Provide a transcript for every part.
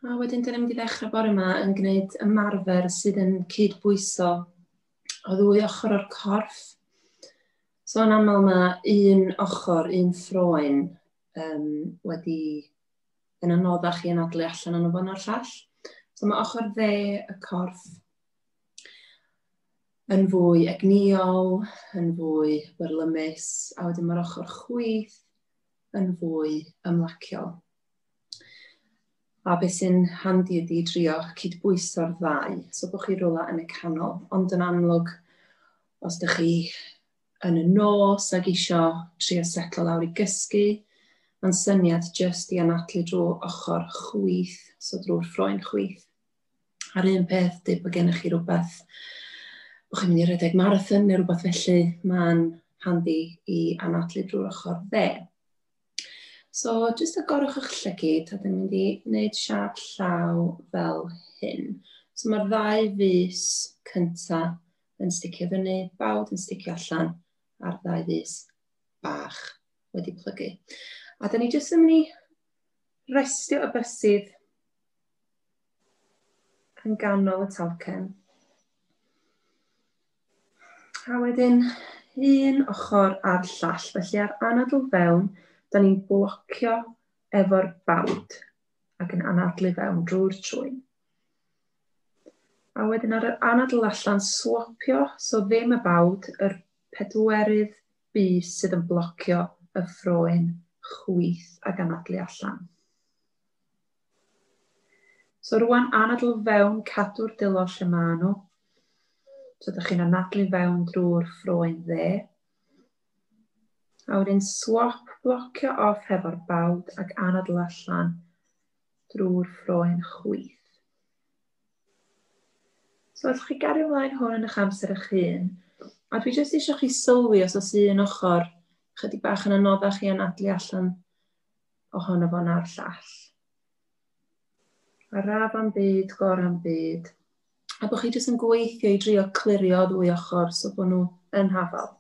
A wedyn, dan ni'n mynd i ddechrau bore yma yn gwneud ymarfer sydd yn cydbwyso o ddwy ochr o'r corff. So yn aml mae un ochr, un ffroen um, wedi yn anoddach i anadlu allan yn y fan o'r llall. So mae ochr dde y corff yn fwy egnïol, yn fwy byrlymus, a wedyn mae'r ochr chwyth yn fwy ymlaciol. A beth sy'n handi ydy drio cydbwyso'r ddau, so bod chi rola yn y canol. Ond yn amlwg, os ydych chi yn y nos ac eisiau trio setlo lawr i gysgu, mae'n syniad jyst i anadlu drwy ochr chwyth, so drwy'r ffroen chwyth. A'r un peth, dweud bod gennych chi rhywbeth, bod chi'n mynd i redeg marathon neu rhywbeth felly, mae'n handi i anadlu drwy'r ochr dde. So, jyst agorwch eich lle gyd, a dwi'n mynd i wneud siap llaw fel hyn. So mae'r ddau fus cynta yn sticio fyny, bawd yn sticio allan, a'r ddau fus bach wedi plygu. A da ni jyst yn mynd i restio y bysydd yn ganol y talcen. A wedyn, un ochr a'r llall. Felly ar anadl fewn, da ni'n blocio efo'r bawd ac yn anadlu fewn drwy'r trwyn. A wedyn ar yr anadl allan, swopio, so ddim y bawd, yr pedwerydd bys sydd yn blocio y ffroen chwith ac anadlu allan. So rwan anadl fewn, cadw'r dilo lle maen nhw. So ydych chi'n anadlu fewn drwy'r ffroen dde. A wedyn swap blocio off hefo'r bawd ac anadl allan drwy'r ffroen chwith. So allwch chi gario ymlaen hwn yn eich amser eich hun. A dwi jyst eisiau chi sylwi os oes un ochr chydig bach yn anoddach i anadlu allan ohono fo na'r llall. A raf am byd, gor am byd. A bod chi jyst yn gweithio i drio clirio ddwy ochr so bod nhw yn hafal.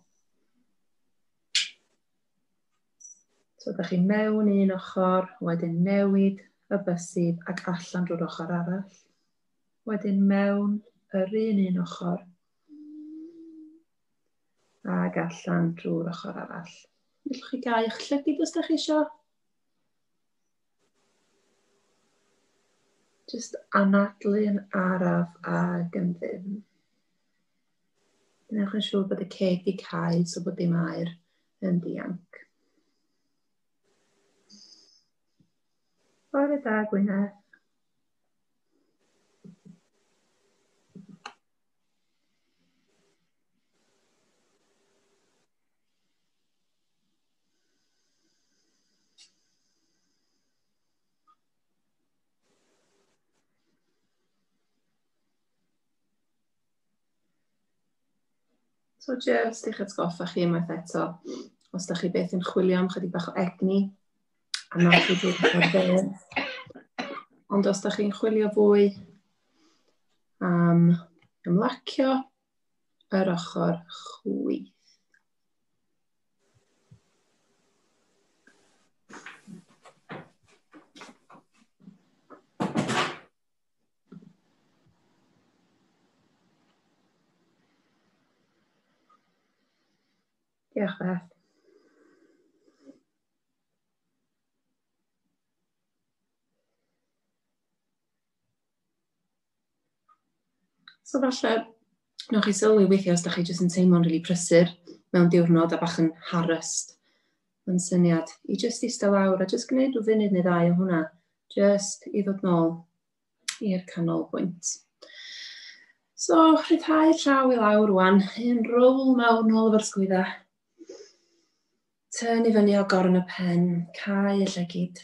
So ydych chi mewn un ochr, wedyn newid y bysydd ac allan drwy'r ochr arall. Wedyn mewn yr un un ochr. Ac allan drwy'r ochr arall. Gallwch chi gau eich llygyd os da chi eisiau. Just anadlu yn araf ag yn ddim. Gwnewch yn siŵr bod y ceg di cael so bod dim air yn dianc. Bore da, Gwyneth. So jyst i'ch atgoffa chi unwaith eto, os da chi byth yn chwilio am chydig bach o egni, A mae chi wedi bod fel. Ond os da chi'n chwilio fwy am ymlacio yr ochr chwith. Diolch, Beth. So falle, newch chi sylwi weithiau os da chi jyst yn teimlo'n rili really prysur mewn diwrnod a bach yn harrest. Mae'n syniad i jyst eistedd lawr a jyst gwneud rhyw funud neu ddau o hwnna. Jyst i ddod nôl i'r canolbwynt. So, rhyddhau llaw i lawr rwan, un rowl mawr nôl o'r sgwydda. Tyn i fyny o gorn y pen, cael y llygyd.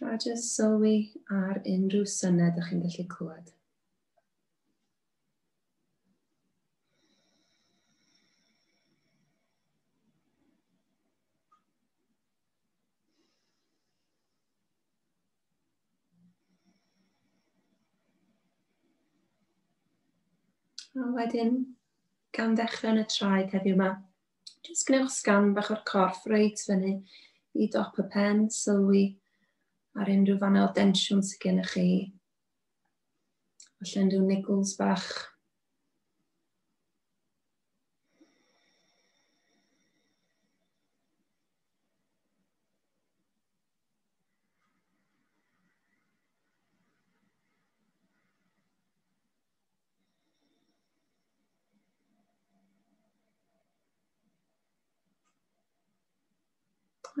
A jyst sylwi ar unrhyw syned ydych chi'n gallu clywed. A wedyn, gan ddechrau yn y traed heddiw yma, jyst gwnewch sgan bach o'r corff reit fyny i dop y pen, sylwi ar unrhyw fannau o densiwn sydd gennych chi. Felly unrhyw niggles bach.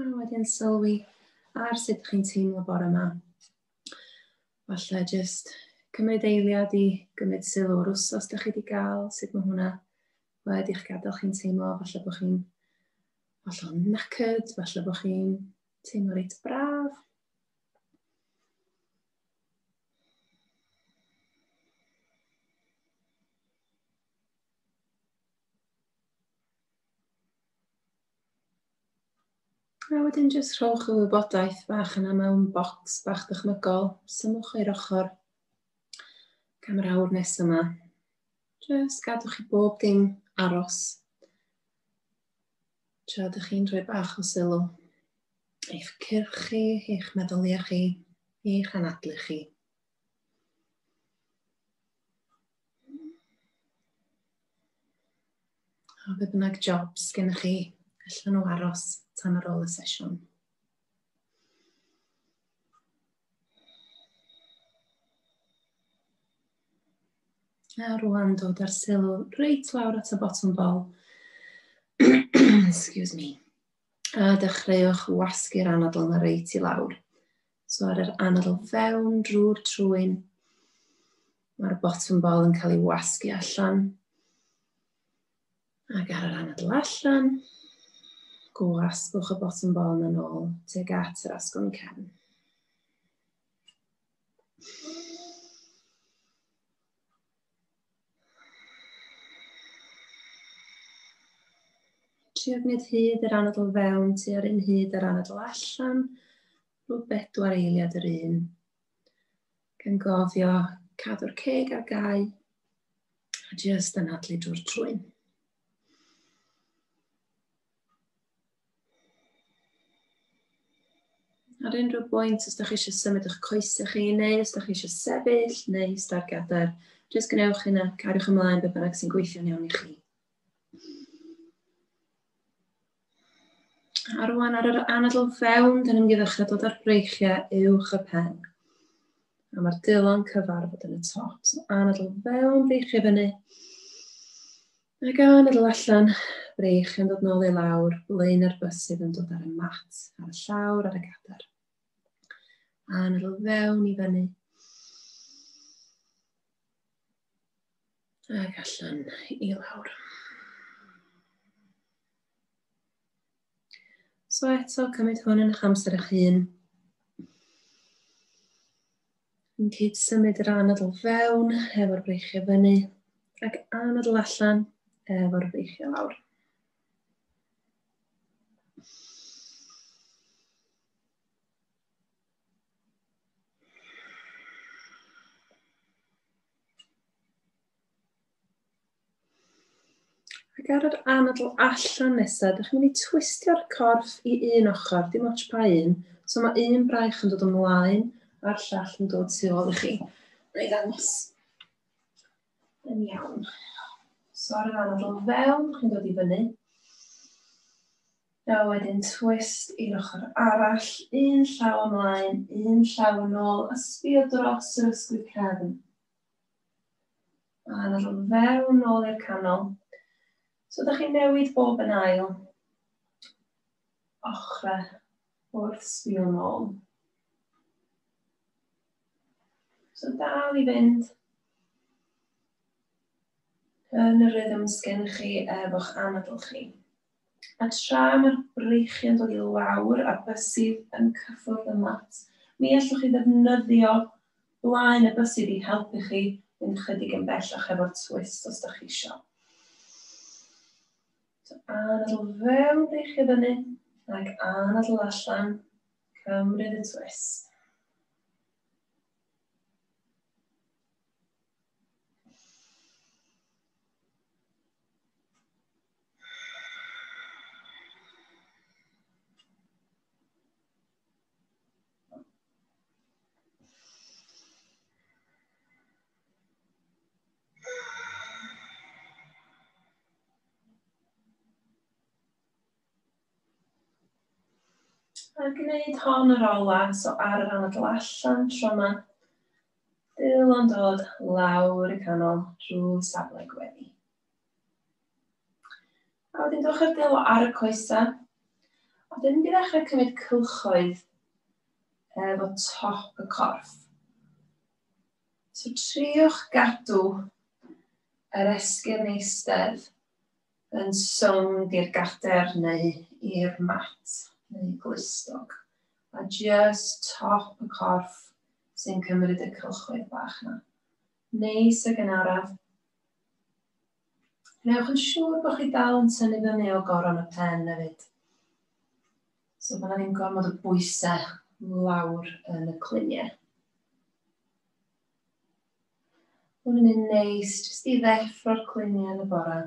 A wedyn sylwi ar sut chi'n teimlo bore yma. Falle jyst cymryd eiliad i gymryd sylw o'r wsos da chi wedi gael, sut mae hwnna wedi eich gadael chi'n teimlo, falle bod chi'n falle o'n nacyd, falle bod chi'n teimlo reit braf. A wedyn jyst rhowch y wybodaeth bach yna mewn bocs bach dychmygol, symwch i'r ochr am yr awr nes yma. Jyst gadwch i bob dim aros. Tra ydych chi'n rhoi bach o sylw eich cyrch chi, eich meddyliau chi, eich anadlu chi. A beth bynnag jobs gennych chi, allan nhw aros tan ar ôl y sesiwn. A rwan dod ar sylw reit lawr at y bottom bol. Excuse me. A dechreuwch wasgu'r anadl yna reit i lawr. So ar yr anadl fewn drwy'r trwyn, mae'r bottom ball yn cael ei wasgu allan. Ac ar yr anadl allan, gwasgwch y bottom ball yn ôl teg at yr asgwrn cefn. Trio gwneud hyd yr anadl fewn, tu ar un hyd yr anadl allan. Rhwyd bedwar eiliad yr un. Gan gofio cadw'r ceg ar gau a jyst anadlu drwy'r trwyn. Ar unrhyw bwynt, os da chi eisiau symud eich coesau chi, neu os da chi eisiau sefyll, neu star gadair, jyst gwnewch hynna, cariwch ymlaen beth bynnag sy'n gweithio'n iawn i chi. A rwan ar yr anadl fewn, dyn ni'n mynd i ddechrau dod ar breichiau uwch y pen. A mae'r dylon cyfarfod yn y top. So anadl fewn, breichiau fyny. A gan ddod allan, breich yn dod nôl i lawr, blaen ar bus sydd yn dod ar y mat, ar y llawr, ar y gadar. A nodl fewn i fyny. Ac allan i lawr. So eto, cymryd hwn yn eich amser eich hun. Yn cyd symud yr anadl fewn efo'r breichiau fyny ac anadl allan efo'r breichiau lawr. Ac ar yr anadl allan nesaf, ydych chi'n mynd i twistio'r corff i un ochr, dim ots pa un. So mae un braich yn dod ymlaen a'r llall yn dod tu ôl i chi. Mae'n ei ddangos. Yn iawn. So ar yr anadl fewn, chi'n dod i fyny. A wedyn twist i'r ochr arall, un llaw ymlaen, un llaw yn ôl, a sbio dros yr ysgwydd cefn. A nawr yn fewn nôl i'r canol. So ydych chi'n newid bob yn ail ochrau wrth sbio nôl. So dal i fynd yn y rhythm sgen chi efo'ch anadl chi. A tra mae'r breichiau'n dod i lawr a'r bysydd yn cyffwrdd y mat, mi allwch chi ddefnyddio blaen y bysydd i helpu chi fynd chydig yn bellach efo'r twist os da chi isio. So, anadl fewn, breichio fyny, ac anadl allan, cymryd y twist. A gwneud hon yr ola, so ar yr anadl allan tro yma. Dil yn dod lawr y canol drwy safle gweddi. A wedyn dewch ar delo ar y coesau. A wedyn mynd i ddechrau cymryd cylchoedd efo top y corff. So triwch gadw yr esgyn eistedd yn sownd i'r gader neu i'r mat neu glustog. A just top y corff sy'n cymryd y cylchoedd bach yna. Neu sy gynharaf. Gwnewch yn siŵr bod chi dal yn tynnu fyny o goron y pen hefyd. So bod yna ddim gormod o bwysau lawr yn y cluniau. Mae'n mynd yn neis, jyst i ddeffro'r cluniau yn y bore.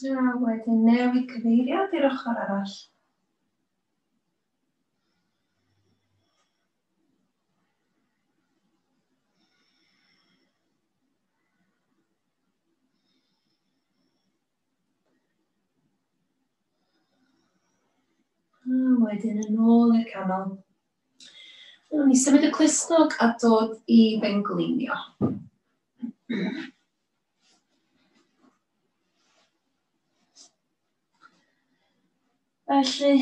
A wedyn newid cyfeiriad i'r ochr arall. A wedyn yn ôl i'r canol. Wnawn ni symud y clustog a dod i fengleinio. Felly,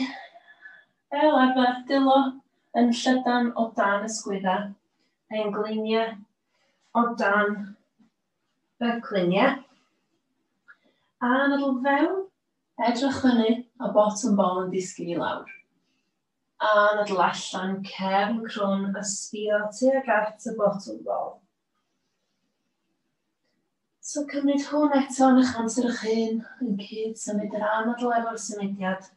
fel arfer, dilo yn llydan o dan y sgwydda, pengleiniau o dan y cliniau. A yn y fewn, edrych fyny a botwm bol yn disgyn i lawr. Anadl allan cefn crwn a sbio tuag at y botwm bol. So cymryd hwn eto yn eich amser eich hun, yn cyd symud yr anadl efo'r symudiad.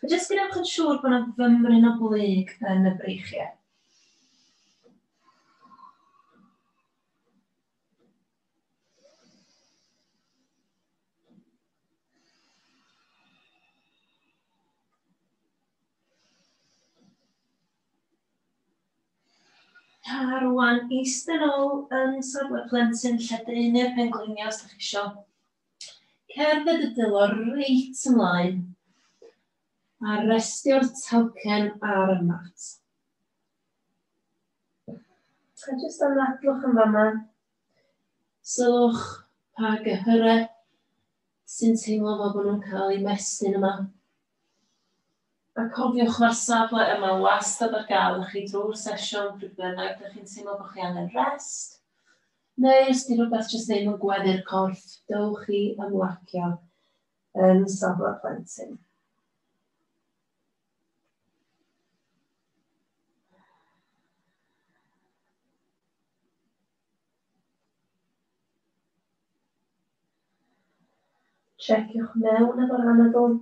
A jyst gwnewch yn siŵr bod yna fymryn o blyg yn y breichiau. A rwan eistedd ôl yn safle plentyn lle deunu'r pengliniau os ydych chi eisiau. Cerdded y dylor reit ymlaen a restio'r talcen ar y mat. A jyst am ddadlwch yn fama, sylwch pa gyhyrau sy'n teimlo fel bod nhw'n cael eu mestyn yma. A cofiwch mae'r safle yma wastad ar gael i chi drwy'r sesiwn pryd bynnag dych chi'n teimlo bod chi angen rest, neu os di rhywbeth jyst ddim yn gweddu'r corff, dewch i ymlacio yn safle plentyn. Checiwch mewn efo'r anadl.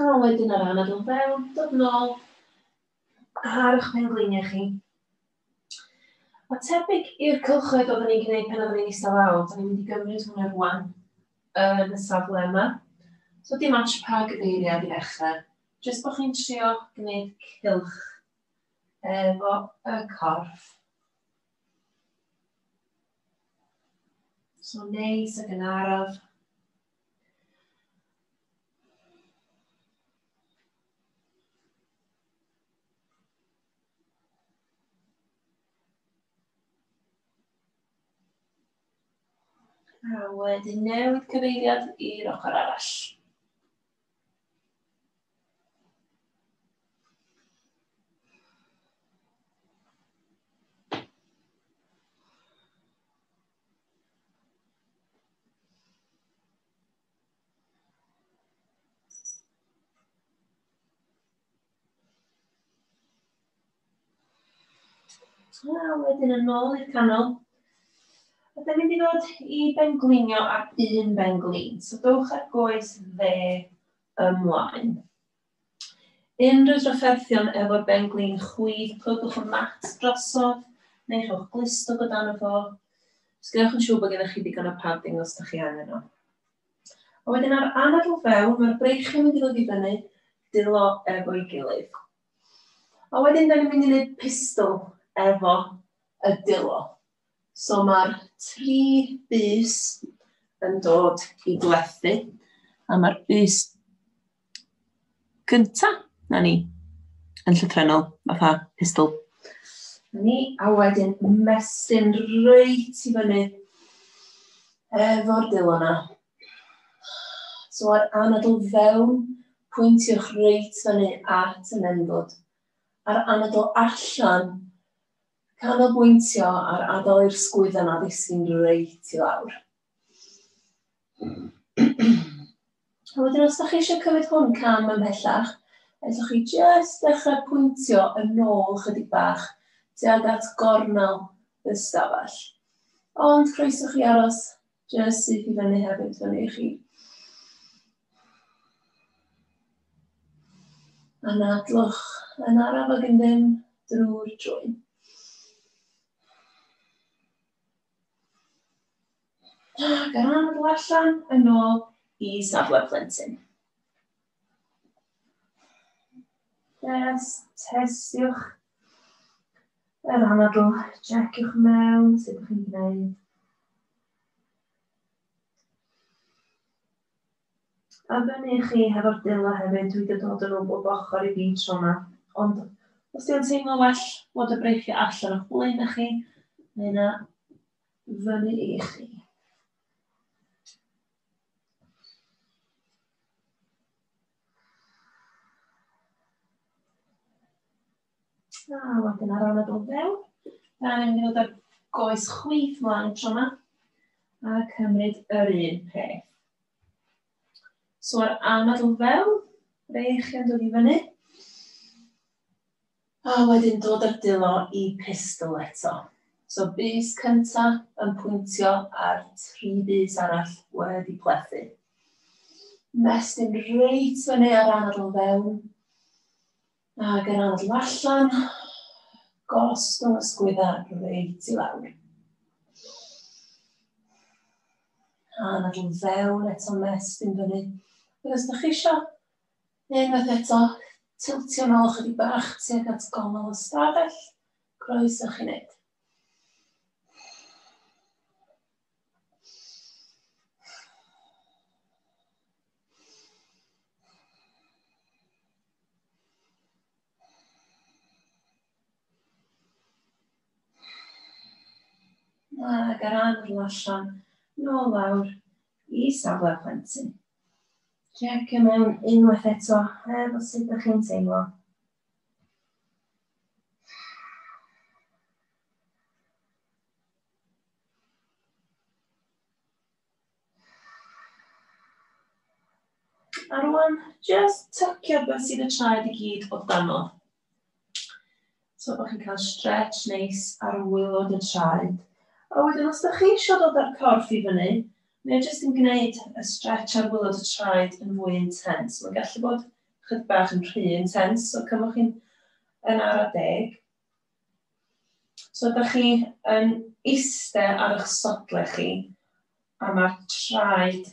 A wedyn yr anadl fewn, dod nôl ar eich pengliniau chi. Mae tebyg i'r cylchoedd oeddwn ni'n gwneud pan oeddwn ni'n eistedd lawr, da ni'n mynd i gymryd hwnna rwan yn y safle yma. So dim ots pa gyfeiriad i ddechrau, jyst bod chi'n trio gwneud cylch efo y corff. So neis ac yn araf. A wedyn newid cyfeiriad i'r ochr arall. A wedyn yn ôl i'r canol. A dyna mynd i ddod i benglinio ar un benglin. So dowch ar goes dde ymlaen. Unrhyw drafferthion efo'r benglin chwith, clywch y mat drosodd, neu rhowch glistwg o dan y fo. Os gennych yn siŵr bod gennych chi ddigon o padding os ydych chi angen o. A wedyn a'r anadl fewn, mae'r breichiau'n mynd i ddod i fyny, dwylo efo'i gilydd. A wedyn da ni'n mynd i wneud pistol efo y dwylo. So mae'r tri bus yn dod i glethu, a mae'r bus gynta, na ni, yn llythrenol, fatha pistol. Ni, a wedyn mestyn reit i fyny efo'r dilo na. So ar anadl fewn, pwyntiwch reit fyny at y menfod. Ar anadl allan, canolbwyntio ar adael i'r sgwyddan a ddisgyn reit i lawr. A wedyn os ydych chi eisiau cymryd hwn cam ymhellach, ydych chi jyst dechrau pwyntio yn ôl chydig bach tuag at gornel y stafell. Ond croeso chi aros jyst syth i fyny hefyd fyny i chi. Anadlwch yn araf ag yn ddim drwy'r drwy. Ac ar ran y allan, yn ôl i safle plentyn. Yes, testiwch yr anadl, checiwch mewn sut ydych chi'n gwneud. A fyny i chi hefo'r dull 'na hefyd, dwi 'di dod yn o bob ochr i fi tro 'ma. Ond os 'di o'n teimlo well bod y breichiau allan o'ch blaenau chi, mae yna fyny i chi. A wedyn ar ôl y dod fewn, da ni'n mynd i ddod â'r goes chwith mlaen tro yma a cymryd yr un peth. So ar anad o fewn, rech yn dod i fyny. A wedyn dod ar dilo i pistol eto. So bus cynta yn pwyntio ar tri bus arall wedi plethu. Mestyn reit fyny ar anad o fewn. Ag yr adl allan, gost o'n ysgwydda reit i lawr. A nad yw'n fewn eto mes dim fyny. Ac os da chi isio, unwaith eto, tiltio nôl ychydig bach tuag at gongol y stafell, croeso chi wneud. ac ar anadl allan, nôl lawr i safle plentyn. Check y mewn unwaith eto, er o sut ydych chi'n teimlo. A rwan, just tycio beth sydd y traed i gyd o dano. So bod chi'n cael stretch neis ar wylod y traed. A wedyn, os ydych chi eisiau dod â'r corff i fyny, mae jyst yn gwneud y stretch ar wylod y traed yn fwy intens. Mae'n gallu bod chydig bach yn rhy intens, so cymwch chi'n yn ara deg. So ydych chi yn eistedd ar eich sodle chi a mae'r traed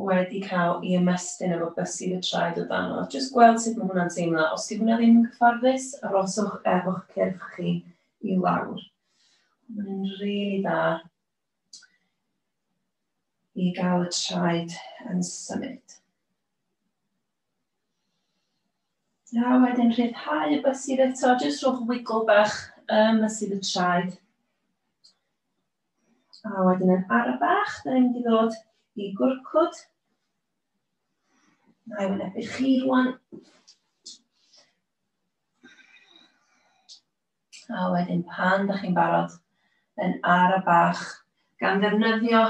wedi cael ei ymestyn efo bysydd y traed o dan o. Jyst gweld sut mae hwnna'n teimlo. Os di hwnna ddim yn cyfforddus, aroswch efo'ch cyrff chi i lawr. Mae'n rili really dda i gael y traed yn symud. A wedyn rhyddhau y bysir eto, jyst rhowch wigl bach ym mysir y traed. A wedyn yn ara bach, da ni'n mynd i ddod i gwrcwd. Na i wynebu chi rwan. A wedyn pan da chi'n barod, yn ara bach, gan ddefnyddio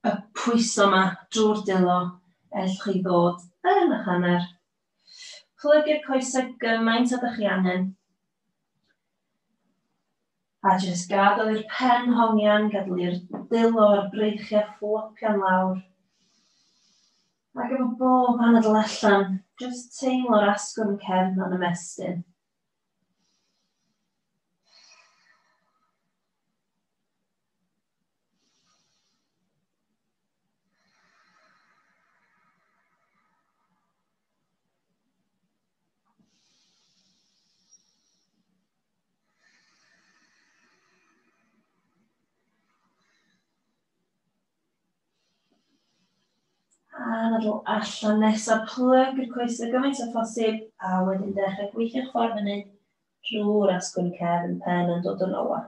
y pwyso ma drw'r dilo ell chi ddod yn ych hanner. Plygu'r coese gymaint a dych chi angen. A jyst gadael i'r pen hongian gadl i'r dilo a'r breichiau fflopio'n lawr. Ac efo bob anadl allan, jyst teimlo'r asgwrn cefn o'n ymestyn. A'n adl allan nesaf plug i'r coesau gymaint o phosib a wedyn dechrau gweithio'ch ffordd fyny drwy'r asgwrn cefn pen yn dod yn ola.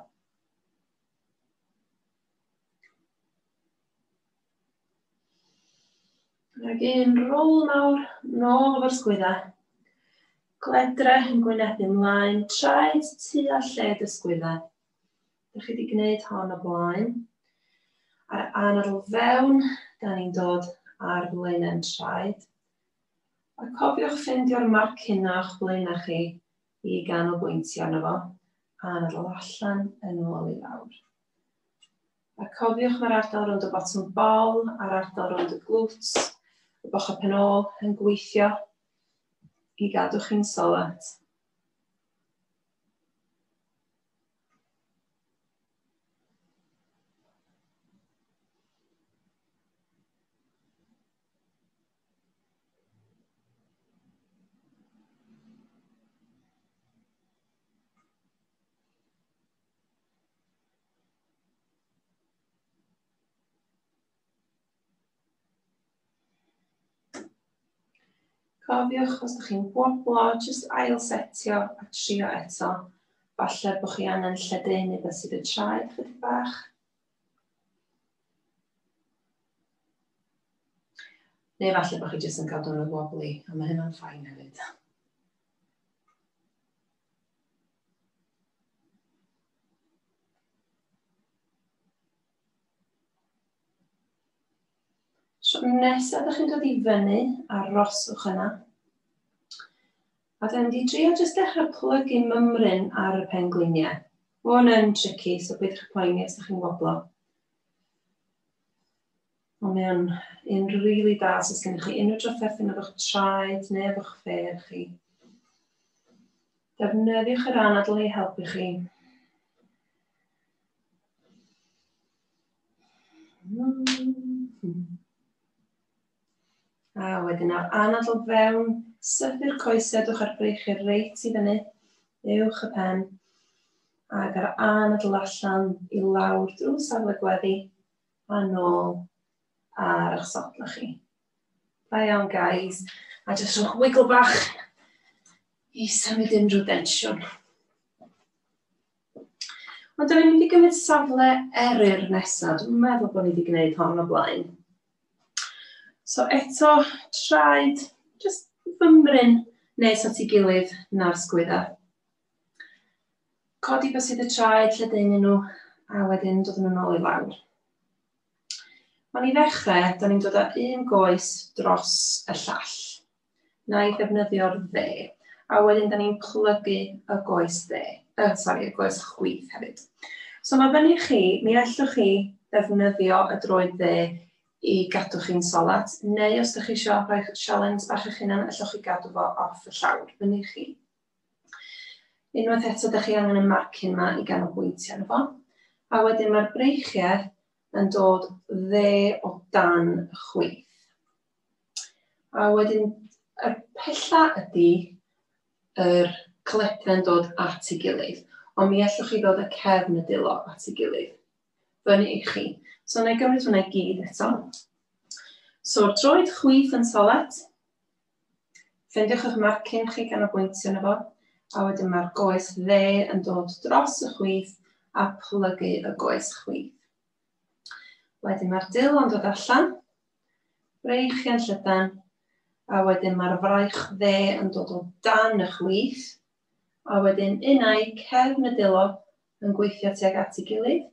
Rhaid i'n rôl nawr, nôl o'r sgwydda. Gledre yn gwyneb ymlaen, traed tu a lled y sgwydda. Dych chi wedi gwneud hon o blaen. A'r anadl fewn, da ni'n dod ar flaenau'n traed. A cofiwch ffeindio'r marc hyn o'ch blaenau chi, i ganolbwyntio arno fo a na ddod allan yn ôl i lawr. A cofiwch mae'r ardal rownd y bottom bol a'r ardal rownd y glwt, y bochau penôl yn gweithio i gadw chi'n solet. Cofiwch, os ydych chi'n gwoblo, jyst ail setio a trio eto. Falle bod chi angen lledaenu beth sydd y traed chydig bach. Neu falle bod chi jyst yn cael dwrnod wobbly, a mae hynna'n ffain hefyd. So nesaf ydych chi'n dod i fyny, aroswch yna. A dan ni di trio jyst dechrau plygu mymryn ar y pengwiniau. Mae hwn yn tricky, so peidiwch â poeni os ydych chi'n woblo. Ond mae o'n un rili really da os oes gennych chi unrhyw drafferthu neu efo'ch traed neu efo'ch ffeir chi. Defnyddiwch yr anadl i helpu chi. Mm -hmm. A wedyn nawr anad o fewn, sythu'r coesau, dwch ar breichir reit i fyny, uwch y pen, ac ar anadl allan i lawr drwy safle gweddi, a nôl ar eich sodla chi. Da iawn, guys. A jyst rhywch wigl bach i symud unrhyw densiwn. Ond da ni'n mynd i gymryd safle eryr nesaf. Dwi'n meddwl bod ni wedi gwneud hon o blaen. So eto, traed, just fymryn nes at ei gilydd na'r sgwydda. Codi bysydd y traed lle dyn nhw, a wedyn dod yn ôl i lawr. Mae'n i ddechrau, da ni'n dod â un goes dros y llall. na i ddefnyddio'r dde, a wedyn da ni'n plygu y goes dde, uh, sorry, y goes chwith hefyd. So mae fyny chi, mi allwch chi ddefnyddio y droed dde i gadw chi'n solat, neu os ydych chi eisiau rhoi sialens bach eich hunan, allwch chi gadw fo off y llawr, fyny chi. Unwaith eto, ydych chi angen y marcyn yma i ganolbwyntio arno fo. A wedyn mae'r breichiau yn dod dde o dan y chwith. A wedyn, y pella ydy yr coledau'n dod at ei gilydd, ond mi allwch chi ddod y cefn y dilo at ei gilydd. Fyny i chi. So, na i gymryd hwnna i gyd eto. So'r troed chwith yn solet. Ffendiwch eich marcyn chi gan o bwyntio yna fo. A wedyn mae'r goes dde yn dod dros y chwith a plygu y goes chwith. Wedyn mae'r dil yn dod allan, braich chi yn llydan, a wedyn mae'r fraich dde yn dod o dan y chwith, a wedyn unau cefn y dilo yn gweithio tuag at ei gilydd,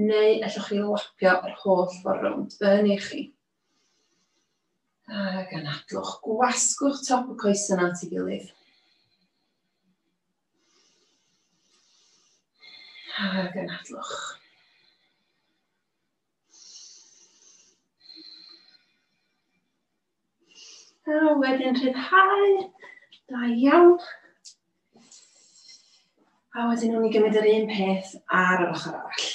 neu allwch chi lapio yr holl ffordd rownd yn ei chi. Ac anadlwch, gwasgwch top y coesyn at ei gilydd. A gynadlwch. A wedyn rhyddhau. Da iawn. A wedyn nhw'n i gymryd yr un peth ar yr ochr arall.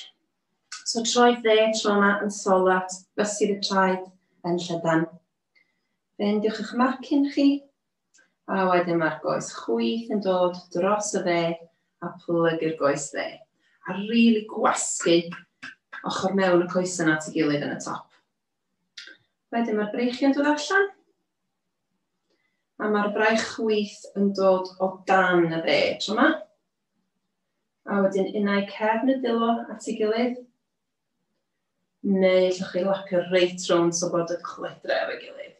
So troi dde, tro yma yn solat, bysydd y traed yn llydan. Fendiwch eich marcyn chi, A wedyn mae'r goes chwith yn dod dros y dde a plygu'r goes dde. A rili really gwasgu ochr mewn y coes yna at ei gilydd yn y top. Wedyn mae'r breichiau'n dod allan. A mae'r braich chwith yn dod o dan y dde tro yma. A wedyn unau cefn y dilo at ei gilydd. Neu allwch chi lapio reit rownd so bod y cledre efo'i gilydd.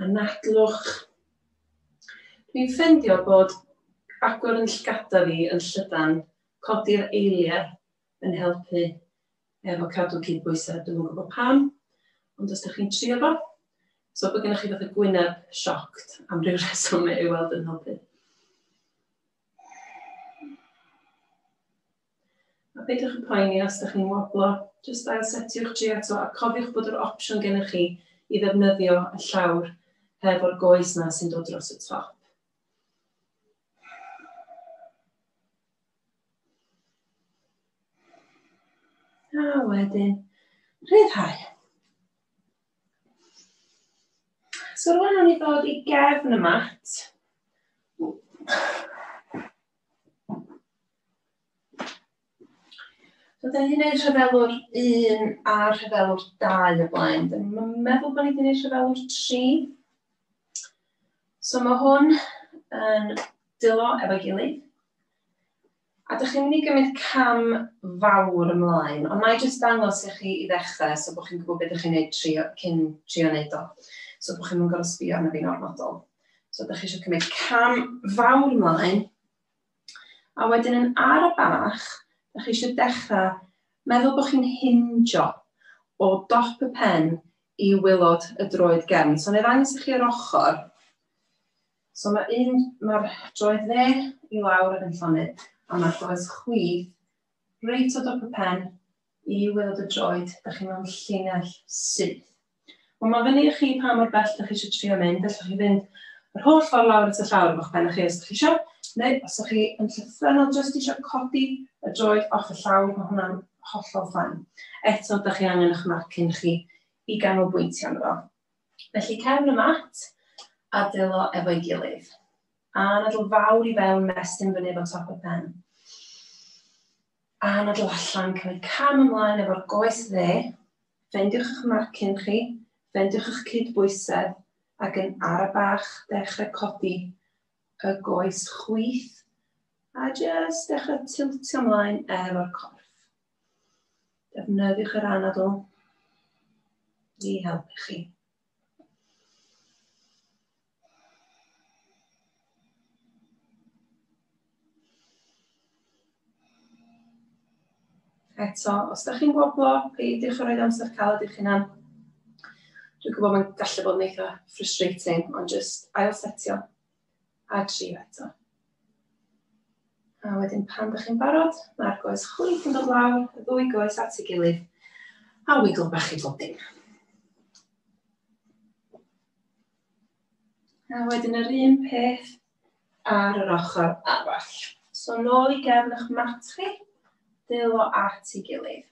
Anadlwch. Dwi'n ffendio bod agor yn llygada fi yn llydan codi'r eiliau yn helpu efo cadw cydbwysedd. Dwi'm yn gwybod pam, ond os dych chi'n trio fo, so bod gennych chi fath o gwyneb sioct am ryw reswm ei weld yn helpu. A peidiwch â phoeni os dych chi'n woblo, jyst ailsetiwch tri eto a cofiwch bod yr opsiwn gennych chi i ddefnyddio y llawr hefo'r goes 'na sy'n dod dros y top. A wedyn, rhyddhau. So rwan o'n i ddod i gefn y mat. So, da ni wedi gwneud rhyfelwr 1 a rhyfelwr 2 o blaen. Da ni'n meddwl bod ni wedi gwneud rhyfelwr 3. So mae hwn yn dilo efo gilydd. A da chi'n mynd i gymryd cam fawr ymlaen, ond na i jyst dangos i chi i ddechrau so bod chi'n gwybod beth ydych chi'n gwneud trio, cyn trio wneud o. So bod chi'n mynd gorau sbio arno fi'n ormodol. So da chi eisiau cymryd cam fawr ymlaen, A wedyn yn ar y bach, dych chi eisiau dechrau meddwl bod chi'n hinjo o dop y pen i waelod y droed gefn. So, neu ddangos i chi yr ochr. So, mae'r un, mae'r droed dde i lawr yn llonydd, a mae'r goes chwith reit o dop y pen i weld y droed, dach chi mewn llinell syth. Wel, mae fyny i chi pa mor bell dach chi eisiau trio mynd, allwch chi fynd yr holl ffordd lawr at y llawr o'ch ben chi os ydych chi eisiau, neu os ydych chi yn llythrenol jyst eisiau codi y droed off y llawr, mae hwnna'n hollol ffain. Eto, da chi angen eich marcyn chi i ganolbwyntio ynddo. Felly cefn y mat a dylo efo'i gilydd. A nadl fawr i fewn, mestyn fyny efo top y pen. A na dw allan, cymryd cam ymlaen efo'r goes dde, ffendiwch eich marcyn chi, ffendiwch eich cyd-bwysedd, ac yn ara bach dechrau codi y goes chwith, a jyst dechrau tiltio ymlaen efo'r corff. Defnyddiwch yr anadl i helpu chi. Eto, os da chi'n woblo, peidiwch â rhoi amser caled i'ch hunan. Dwi'n gwybod mae'n gallu bod yn eitha frustrating, ond just ail setio a trio eto. A wedyn pan da chi'n barod, mae'r goes chwith yn dod lawr, y ddwy goes at ei gilydd, a wigl bach i bob dim. A wedyn yr un peth ar yr ochr arall. So nôl i gefn eich mat chi, dylo at ei gilydd.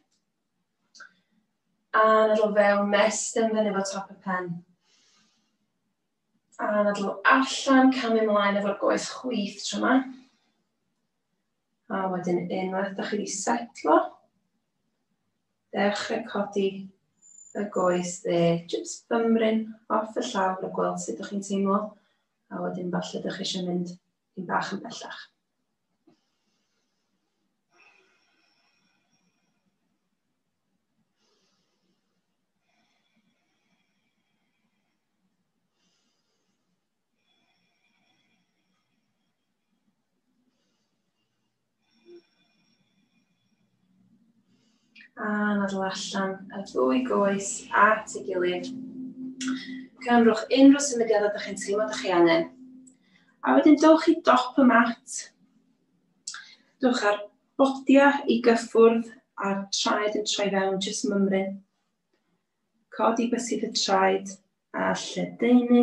A nadl fewn mes dim fyny fo top y pen. A nadl allan, camu ymlaen efo'r goes chwith tro yma. A wedyn unwaith da chi wedi setlo, dechrau codi y goes dde, jyst bymryn off y llawr a gweld sut ydych chi'n teimlo, a wedyn falle ydych chi eisiau mynd yn bach yn bellach. A nadl allan y ddwy goes at ei gilydd. Cynrwch unrhyw symudiadau ydych chi'n teimlo ydych chi angen. A wedyn dowch i dop y mat. Dowch ar bodia i gyffwrdd a'r traed yn troi fewn jyst mymryn. Codi bysedd y traed a lledaenu.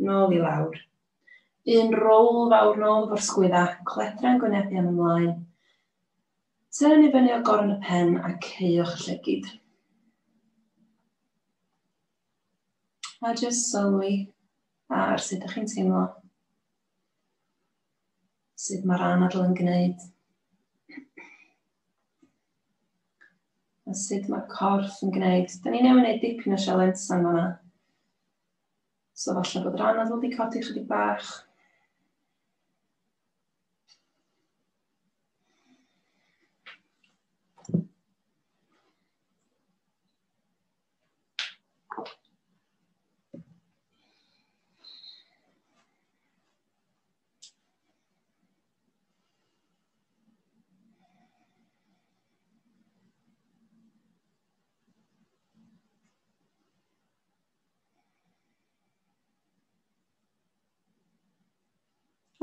Nôl i lawr. Un roll fawr nôl efo'r sgwydda, cledra yn gwynebu am ymlaen. Tynn i fyny o gorn y pen a ceuwch y llygid. A jyst sylwi ar sut ydych chi'n teimlo. Sut mae'r anadl yn gwneud. A sut mae corff yn gwneud. Da ni newydd wneud dipyn o sialensa yma. So falle bod rhan anodd wedi codi chydig bach.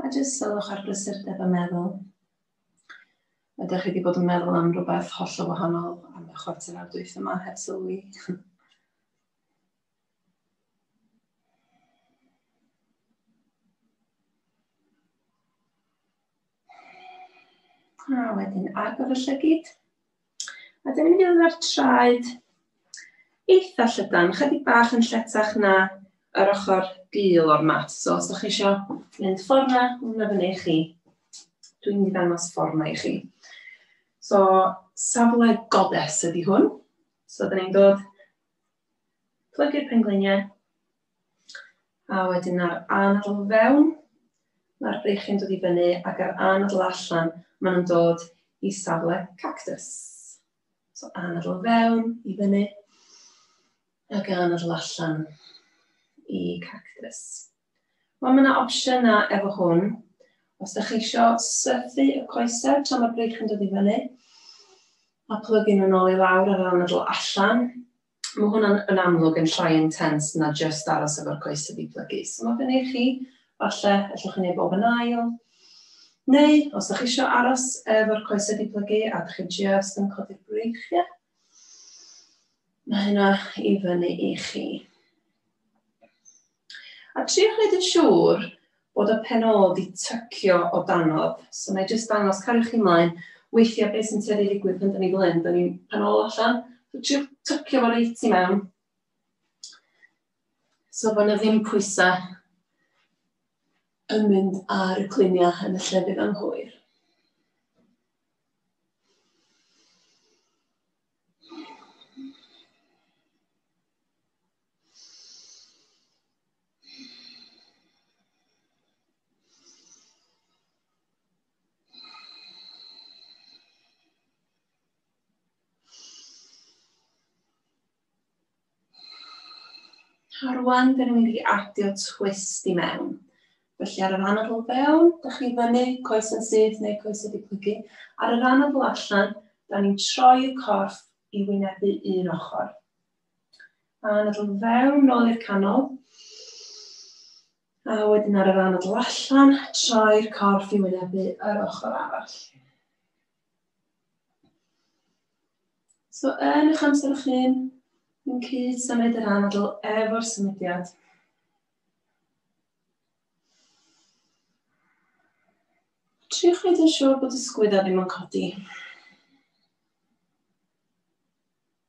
A jyst sylwch ar brysurdeb y meddwl. Ydych chi wedi bod yn meddwl am rhywbeth holl o wahanol am y chwarter awr dwyth yma heb sylwi? A wedyn agor y llygyd. A dyna ni fydd ar traed eitha llydan, chydig bach yn lletach na yr ochr gul o'r mat. So os ydych chi eisiau mynd ffordd na, hwnna fyny i chi. Dwi'n mynd i ddangos ffordd na i chi. So safle goddess ydy hwn. So dyna ni'n dod plygu'r pengliniau. A wedyn ar anadl fewn, mae'r breichiau'n dod i fyny ac ar anadl allan, maen nhw'n dod i safle cactus. So anadl fewn i fyny ac anadl allan i cactus. Wel, mae yna opsiynau efo hwn. Os da chi eisiau sythu y coesau tra mae'r brig yn dod i fyny, a plygu nhw'n ôl i lawr ar ran y dl allan, mae hwnna'n yn amlwg yn llai intense na just aros efo'r coesau di plygu. So mae fyny i chi, falle, allwch chi wneud bob yn ail. Neu, os da chi eisiau aros efo'r coesau di plygu a da chi just yn codi'r breichiau, mae hynna i fyny i chi. A trio gwneud yn siŵr bod y penôl 'di tycio o danodd. So na i jyst dangos, cario chi mlaen, weithiau beth sy'n tueddu i ddigwydd pan 'da ni fel hyn, 'da ni'n penôl allan, so trio tycio fo reit i mewn. So fo' 'na ddim pwysau yn mynd ar y cluniau yn y llefydd anghywir. A rwan, dyn ni'n mynd i adio twist i mewn. Felly ar y rhan o fewn, da chi fyny, coes yn syth neu coes wedi plygu. Ar y rhan o allan, da ni'n troi y corff i wynebu un ochr. A anadl fewn, nôl i'r canol. A wedyn ar yr anadl allan, troi'r corff i wynebu yr ochr arall. So yn eich amser o'ch hyn, yn cyd symud yr anadl efo'r symudiad. Triwch wneud yn siŵr bod y sgwydda ddim yn codi.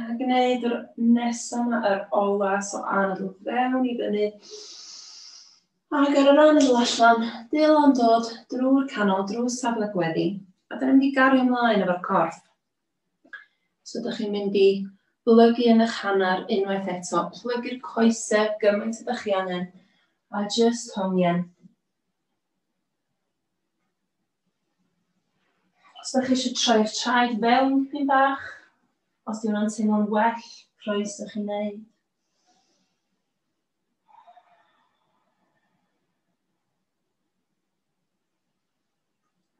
A gwneud yr nesaf yma, yr ola, so anadl fewn i fyny. Ac ar yr anadl allan, dil o'n dod drwy'r canol, drwy safle gweddi. A dyna mynd i gario ymlaen efo'r corff. So ydych chi'n mynd i blygu yn eich hanner unwaith eto, plygu'r coesau gymaint ydych chi angen, a just hongian. Os da chi eisiau troi'r traed fewn dipyn bach, os di hwnna'n teimlo'n well, croes ych chi'n neud.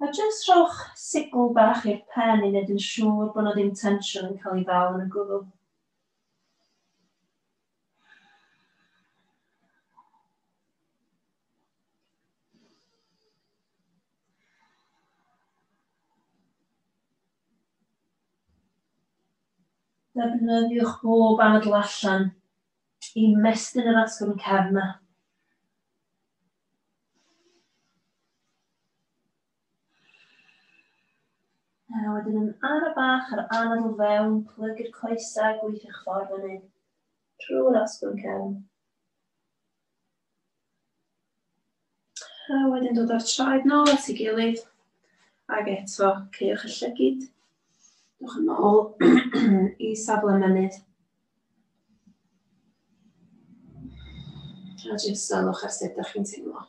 A jyst rhowch sigl bach i'r pen i wneud yn siŵr bod na ddim tensiwn yn cael ei ddal yn y gwddw. Defnyddiwch bob adl allan i mestyn yr asgwrn cefn na. A wedyn yn ara bach ar anad o fewn, plygu'r coesau, gweithio'ch ffordd fyny trwy'r asgwrn cefn. A wedyn dod â'r traed nôl at ei gilydd. Ac eto, ceiwch y llygyd. Dwch yn ôl i safle mynydd. A jyst salwch ar sut ydych chi'n teimlo.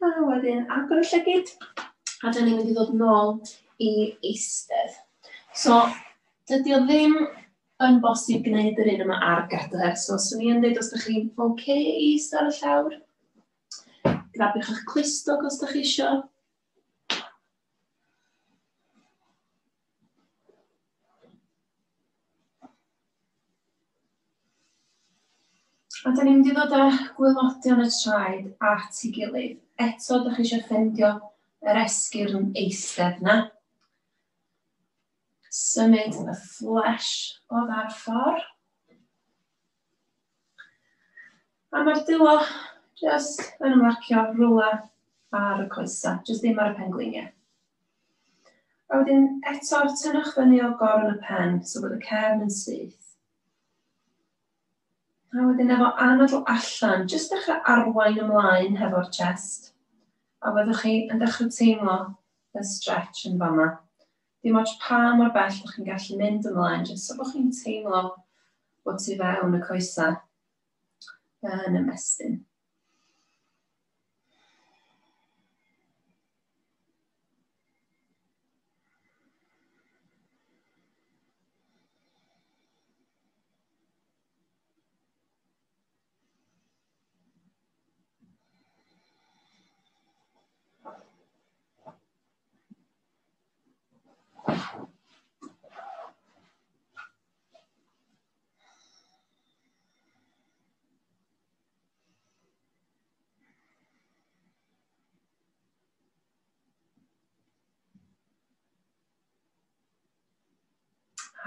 A wedyn agor y llygyd, a dyn ni'n mynd i ddod nôl i eistedd. So, dydy o ddim yn bosib gwneud yr un yma ar gadair. So, swn i'n dweud os ydych chi'n oce okay i eistedd ar y llawr, grabiwch eich clustog os ydych chi eisiau. A da ni'n mynd i ddod â gwylodion y traed at ei gilydd. Eto, da chi eisiau ffendio yr esgyrn yn eistedd na. Symud y fflesh o dda'r ffordd. A mae'r dulo jyst yn ymlacio rwla ar y coesa, jyst ddim ar y pengliniau. A wedyn eto tynnwch fyny o gorn y pen, so bod y cefn yn syth. A wedyn efo anadl allan, jyst dechrau arwain ymlaen hefo'r chest. A fyddwch chi yn dechrau teimlo y stretch yn fama. Dim ots pa mor bell bod chi'n gallu mynd ymlaen, jyst so bod chi'n teimlo bod ti fewn y coesau yn ymestyn.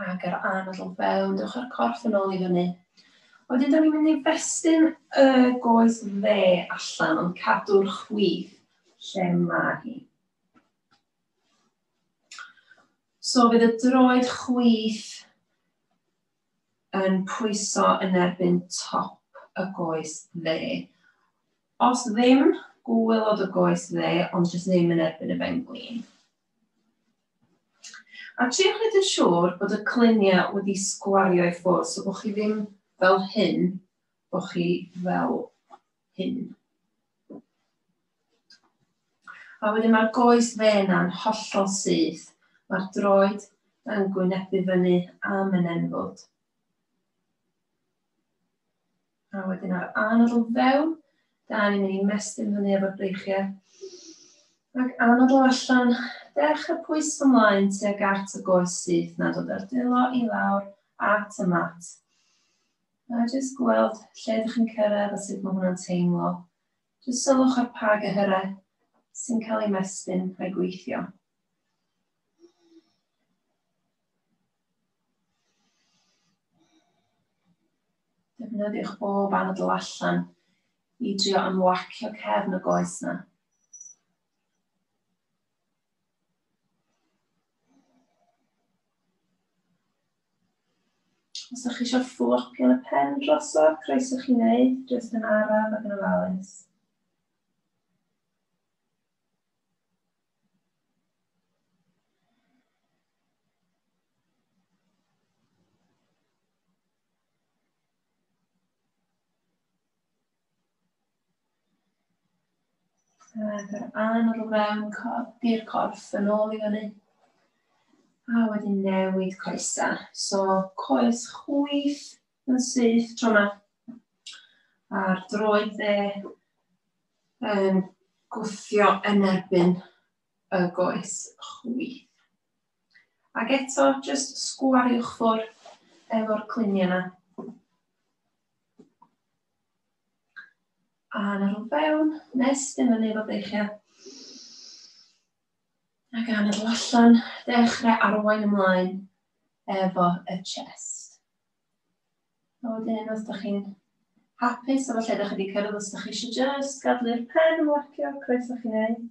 ac yr anadl fewn, dewch o'r corff yn ôl i fyny. Wedyn, da ni'n mynd i festyn y goes dde allan, ond cadw'r chwith lle mae hi. So fydd y droed chwith yn pwyso yn erbyn top y goes dde. Os ddim, gwylod y goes dde, ond jyst ddim yn erbyn y ben glin. A triwch wneud yn siŵr bod y cluniau wedi sgwario i ffwrdd, so bod chi ddim fel hyn, bod chi fel hyn. A wedyn mae'r goes fe yna'n hollol syth. Mae'r droed yn gwynebu fyny am yn enfwd. A wedyn ar anod o fewn, da ni'n mynd i mestyn fyny efo'r breichiau. Ac anod o allan, dechrau pwys ymlaen tuag at y goes syth na dod ar delo i lawr at y mat. A jyst gweld lle dych chi'n cyrraedd a sut mae hwnna'n teimlo. Jyst sylwch ar pa gyhyrau sy'n cael ei mestyn a'i gweithio. Defnyddiwch bob anadl allan i drio ymlacio cefn y goes yna. Os ydych chi eisiau fflopio y pen drosodd, croeso chi wneud, jyst yn araf ac yn ofalus. Rhaid yr anod o fewn codi'r corff yn ôl i fyny. A wedyn newid coesa. So coes chwyth yn syth tro yma. A'r droed dde yn gwthio yn erbyn y goes chwyth. Ac eto, just sgwariwch ffwrdd efo'r cluniau yna. A na rhwng fewn, nes ddim yn ei fod eich ia. A gan y allan, dechrau arwain ymlaen efo y chest. A wedyn, os ydych chi'n hapus efo lle ydych chi wedi cyrraedd, os ydych chi eisiau just gadw'r pen yn warcio, croeso chi'n neud.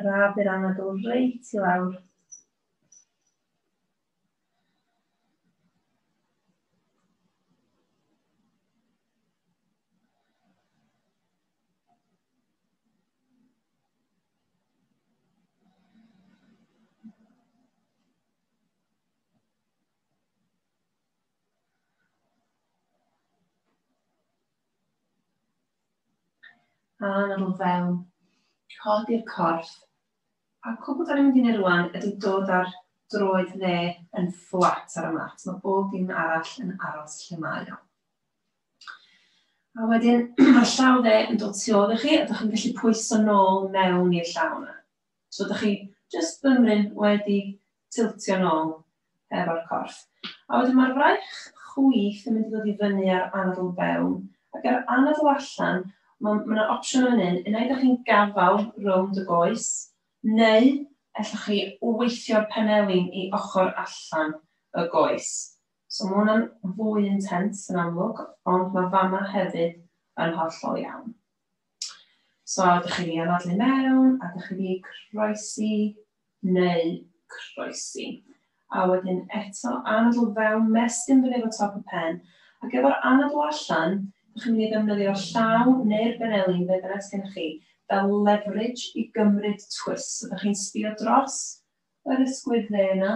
Rhaf i'r anadl reit i lawr. A yn ôl fewn, codi'r corff. A cwbl da ni'n mynd i wneud rwan ydy dod ar droed dde yn fflat ar y mat. Mae bob dim arall yn aros lle mae o. A wedyn, mae'r llaw dde yn dod tu ôl i chi, a ydych chi'n gallu pwyso nôl mewn i'r llaw yna. So da chi jyst bymryn wedi tiltio nôl efo'r corff. A wedyn mae'r fraich chwith yn mynd i ddod i fyny ar anadl fewn ac ar anadl allan mae yna ma opsiwn yn un, unai da chi'n gafal rownd y goes neu allwch chi weithio'r penelin i ochr allan y goes. So mae hwnna'n fwy intense yn amlwg ond mae fama hefyd yn hollol iawn. So, ydych chi'n ei anadlu mewn, a ydych chi'n ei croesi, neu croesi. A wedyn eto, anadl fewn, mestyn fyny efo top y pen, ac efo'r anadl allan, ydych chi'n mynd i ddefnyddio'r llaw neu'r benelin, be bynnag sydd gennych chi, fel leverage i gymryd twist. So, ydych chi'n sbio dros yr ysgwydd dde yna,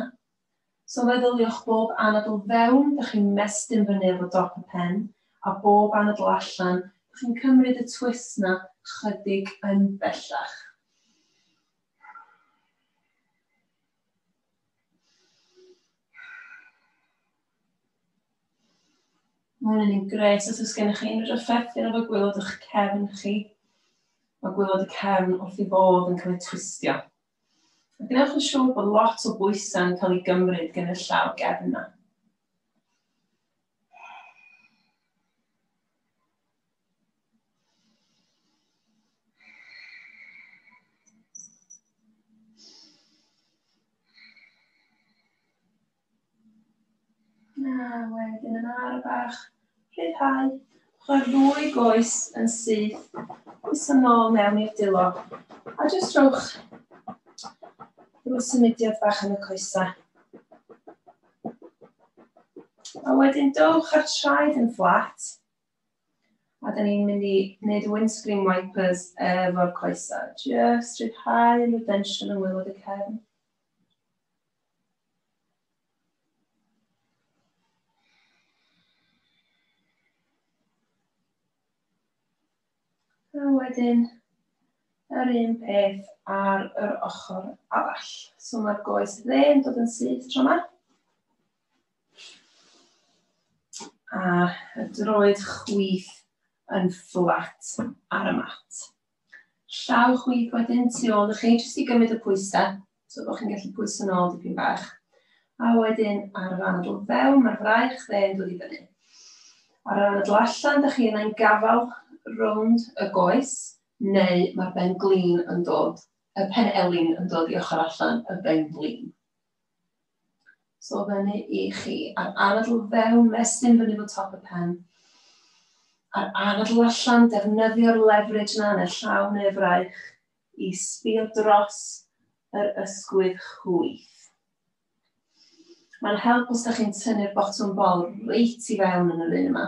So meddyliwch bob anadl fewn, dych chi'n mestyn fyny efo dop y pen, a bob anadl allan, dych chi'n cymryd y twist 'na chydig yn bellach. Mae hwn yn gret os oes gennych chi unrhyw ryffethion efo gwylod o'ch cefn chi. Mae gwylod y cefn wrth i fod yn cael ei twistio. A gwnewch yn siŵr bod lot o bwysau'n cael ei gymryd gan y llaw gefn yna. Na, wedyn yn ar bach rhyddhau. Mae'r ddwy goes yn syth. Goes yn ôl mewn i'r dilo. A jyst rhowch rhyw symudiad bach yn y coesa. A wedyn dowch ar traed yn fflat. A da ni'n mynd i wneud windscreen wipers efo'r coesa. Jyst rhyddhau yn y tensiwn yng ngwylod y cefn. A wedyn yr un peth ar yr ochr arall. So mae'r goes dde yn dod yn syth tro yma. A y droed chwith yn fflat ar y mat. Llaw chwith wedyn tu ôl i chi, jyst i gymryd y pwysau, so bod chi'n gallu pwyso nôl dipyn bach. A wedyn ar yr anadl fewn, mae'r fraich dde yn dod i fyny. Ar yr anadl allan, da chi yna'n gafael rownd y goes, neu mae'r ben glin yn dod, y pen elin yn dod i ochr allan y ben glin. So fyny i chi. A'r anadl fewn, mestyn fyny fo top y pen. A'r anadl allan, defnyddio'r leverage na yn y llaw neu fraich i sbio dros yr ysgwydd chwyth. Mae'n help os da chi'n tynnu'r botwm bol reit i fewn yn yr un yma.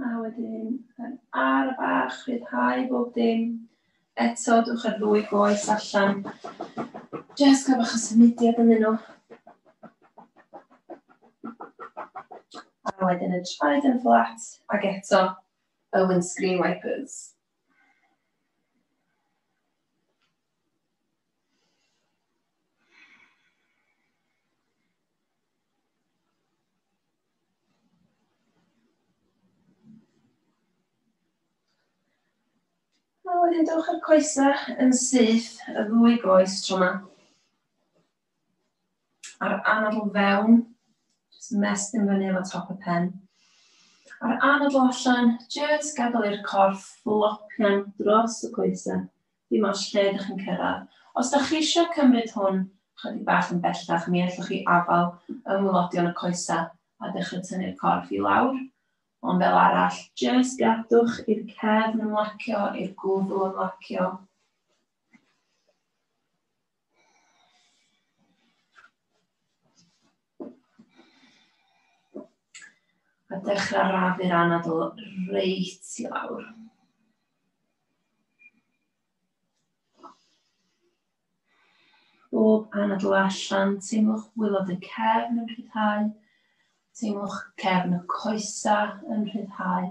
A wedyn, yn ar y bach, rhyddhau bob dim. Eto, dwch ar ddwy goes allan. Just cael bach o symudiad yn nhw. A wedyn y traed yn fflat, ac eto y windscreen wipers. A wedyn dewch â'r coesau yn syth y ddwy goes tro yma. A'r anadl fewn, jyst mestyn fyny efo top y pen. A'r anadl allan, jyst gadael i'r corff flopian dros y coesau. Dim ots lle ydych chi'n cyrraedd. Os dach chi eisiau cymryd hwn chydig bach yn bellach mi allwch chi afal yng ngwlodion y coesau a dechrau tynnu'r corff i lawr, ond fel arall, jyst gadwch i'r cefn ymlacio, i'r gwddw ymlacio. A dechrau rafu'r anadl reit i lawr. Bob anadl allan, teimlwch wylod y cefn yn rhyddhau, teimlwch cefn y coesa yn rhyddhau.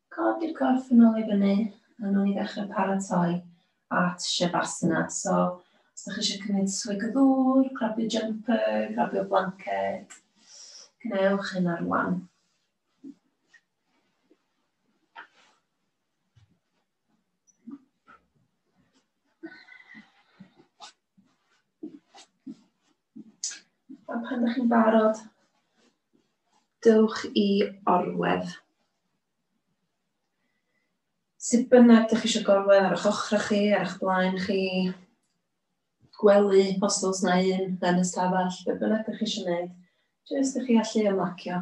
Codi'r corff yn ôl i fyny a nawn ni ddechrau paratoi at Shavasana. So, os ydych chi eisiau cymryd swig o ddŵr, grabio jumper, grabio blanced, gwnewch hyn ar wan. A pan ydych chi'n barod, dewch i orwedd. Sut bynnag ydych chi eisiau gorwedd ar eich ochrau chi, ar eich blaen chi, gwely, os oes na un, yn y stafell, beth bynnag ydych chi eisiau gwneud, jyst ydych chi allu ymlacio.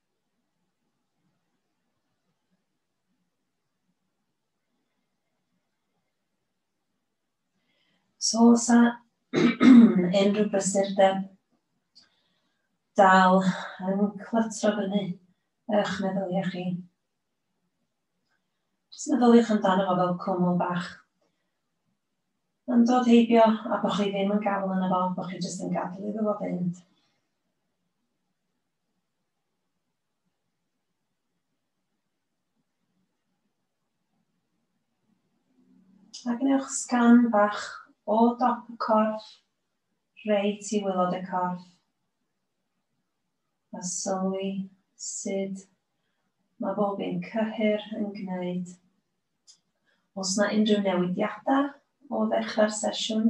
So, os a unrhyw brysurdeb dal yn clytro fyny eich meddyliau chi. Jyst meddyliwch amdano fo fel cwmwl bach. Yn dod heibio a bod chi ddim yn gafael yna fo, bod chi jyst yn gadw iddo fo fynd. A gwnewch sgan bach o dop y corff, reit i wylod y corff. A sylwi sut mae bob un cyhyr yn gwneud. Os na unrhyw newidiadau o ddechrau'r sesiwn.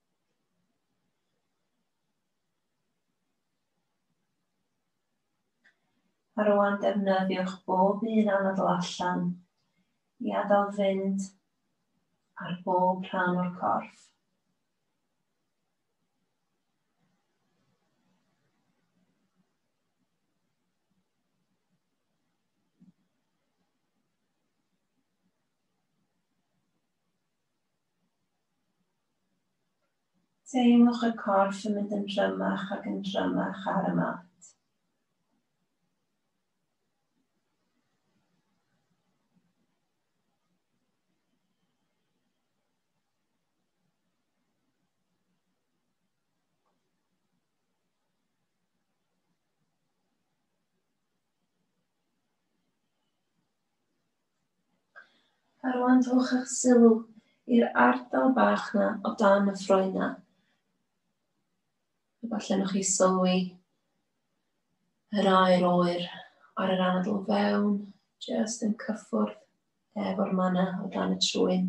A rwan defnyddiwch bob un anadl allan i adael fynd ar bob rhan o'r corff. Teimlwch y corff yn mynd yn drymach ac yn drymach ar y mat. A rwan rhowch eich sylw i'r ardal bach na o dan y ffroen na. Efallai nhw'ch chi sylwi yr air oer ar yr anadl fewn, jyst yn cyffwrdd efo'r mana o dan y trwyn.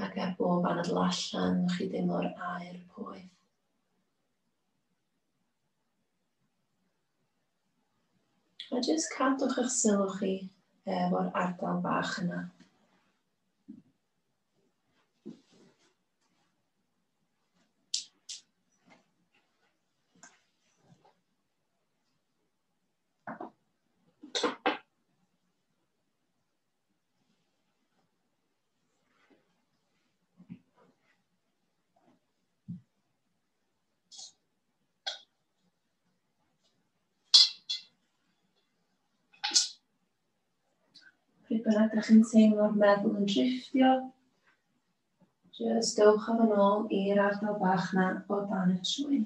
Ac ar bob anadl allan, chi deimlo'r air poeth. A jyst cadwch eich sylw chi efo'r ardal bach yna. Pryd bynnag ydych chi'n teimlo'r meddwl yn drifftio, jyst dewch â fo'n ôl i'r ardal bach na o dan y trwyn.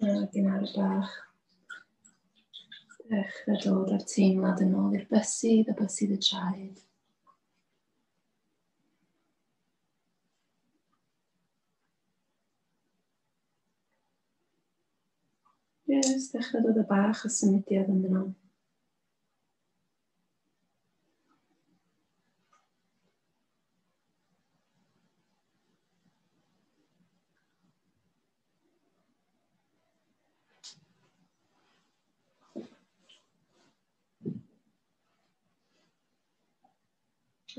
Dyna gynnar bach. Dechrau dod â'r teimlad yn ôl i'r bysydd a bysydd y traed. Yes, dechrau dod y bach o symudiad yn yno.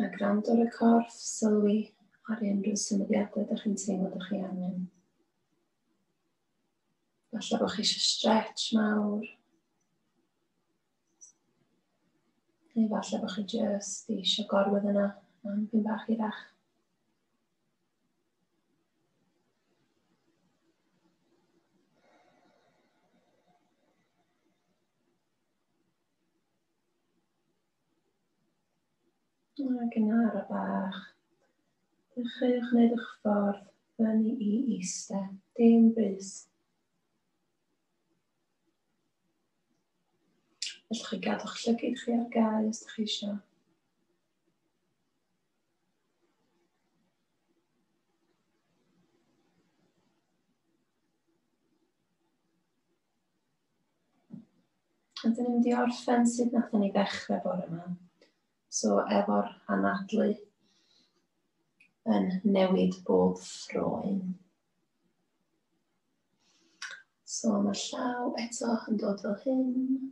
A gwrando ar y corff, sylwi ar unrhyw symudiadau ydych chi'n teimlo ydych chi angen. Falle bod chi eisiau stretch mawr. Neu falle bod chi jyst eisiau gorwedd yna am pyn bach hirach. Ac yn ar y bach, dechreuwch wneud eich ffordd fyny i eistedd, dim brys. Felly chi gadw'ch llygyd chi ar gael os ydych chi eisiau. A dyn ni'n di orffen sut nath ni ddechrau bore yma. So efo'r anadlu yn newid bob ffroen. So mae'r llaw eto yn dod fel hyn.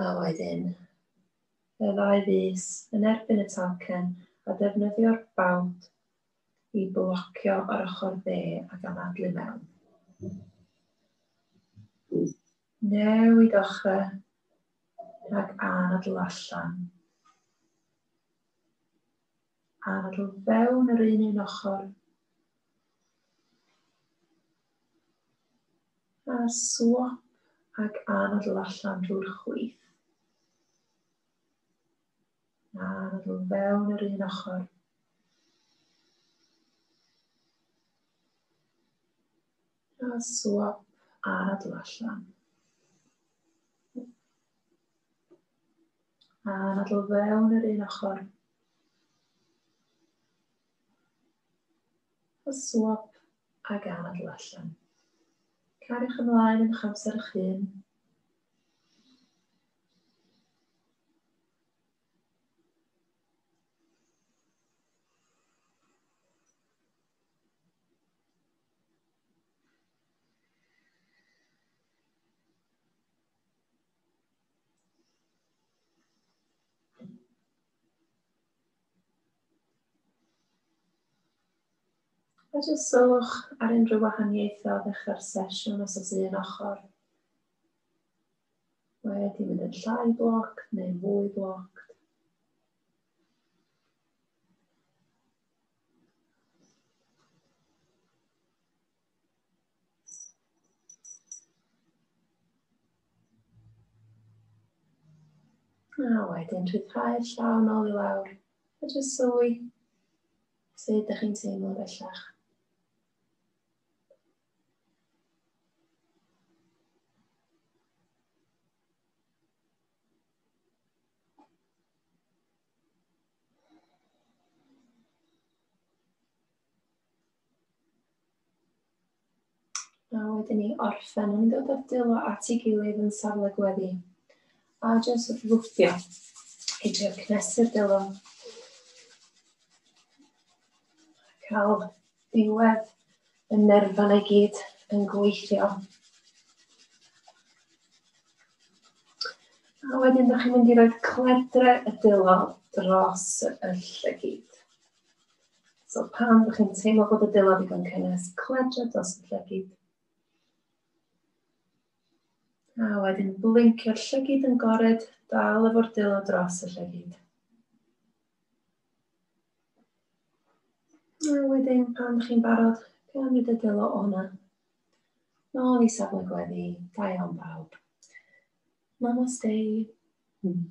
A wedyn, y ddau fus yn erbyn y talcen a defnyddio'r bawd i blocio ar ochr dde ac am adlu mewn. Newid ochr ac anadl allan. Ar o fewn yr un un ochr. A swap ac anadl allan drwy'r chwith. A anadl fewn yr un ochr. A swap anadl allan. A nadl fewn yr un ochr. A swap ag anadl allan. Cariwch ymlaen yn eich amser eich hun. Os oes sylwch ar unrhyw wahaniaethau o ddechrau'r sesiwn, os oes un ochr wedi mynd yn llai bloc neu fwy bloc. A wedyn rhyddhau'r llaw nôl i lawr. A jyst sylwi sut ydych chi'n teimlo bellach. A wedyn ni orffen yn dod o'r delo at ei gilydd yn safle gweddi. A jyst wrth lwfftio i drio cnesu'r delo. Cael diwedd y nerfan i gyd yn gweithio. A wedyn, da chi'n mynd i roed cledre y delo dros y llygyd. So pan ydych chi'n teimlo bod y dillad yn cynnes, cledra dros y llygid. A wedyn blincio'r llygid yn gored, dal efo'r dillad dros y llygid. A wedyn pan ydych chi'n barod, cymryd y dillad o'na. Nôl i safle gweddi, da iawn bawb. Namaste. Hmm.